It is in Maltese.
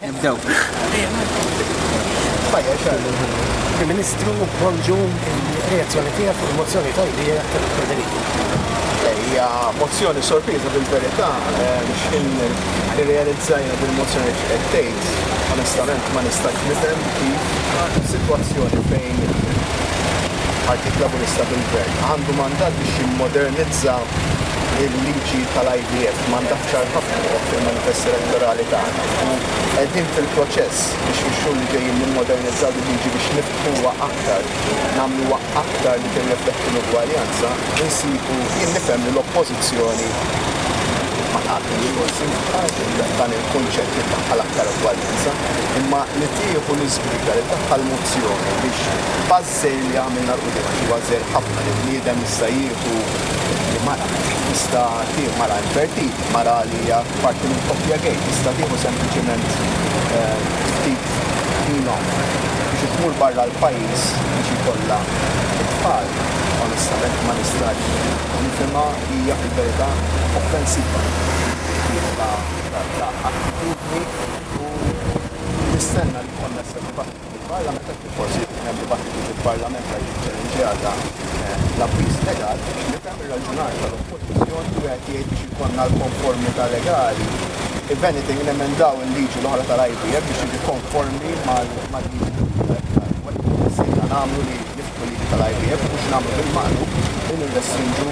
Nibdew. Il-Ministru Bonġu reazzjoni tiegħek fuq il-mozzjoni ta' idea ta' Federico. Hija mozzjoni sorpriża bil-verità biex irrealizzajna bil-mozzjoni qed tgħid. Onestament ma nistax nifhem kif sitwazzjoni fejn Partit Laburista bil-Gvern għandu mandat biex jimmodernizza il-liġi tal-IVF m'għandha ħsar ħafna tagħha fil-manifest elettorali tagħna u qegħdin fil-proċess biex fix-xhur li ġejjin nimmodernizzaw il-liġi biex niftħuha aktar, nagħmluha aktar li tirrifletti l-ugwaljanza, insibu, jien nifhem li l-Oppożizzjoni ma taqbilx forsi ma' dan il-kunċett li ddaħħal aktar ugwaljanza, imma li tieħu l-iżbriga li ddaħħal mozzjoni biex Sejl li għamilna l-quddiem għax huwa żgħir ħafna li bniedem jista' jieħu li mara tista' tieħu mara invertiti, mara li hija parti minn koppja gay, tista' tieħu sempliċiment ftit ħin off biex tmur barra l-pajjiż biex jkollha t-tfal, onestament ma nistax nifhimha, hija fil-verità offensiva fil-ħsieb ta' attitudni u nistenna li jkollna s-sodisfazzjon. Il-Parlament qed forsi jkun hemm dibattitu fil-Parlament għal jiġi ċċellenġjat dan l-abbuż legali biex nifhem ir-raġunar tal-Oppożizzjoni li wieħed jgħid biex ikollna l-konformità legali. If anything, nemendaw il-liġi l-oħra tal-IVF biex jiġi konformi mal-liġi tal-IVF. Nagħmlu li nifku liġi tal-IVF biex nagħmlu bil-maqlub li nirrestrinġu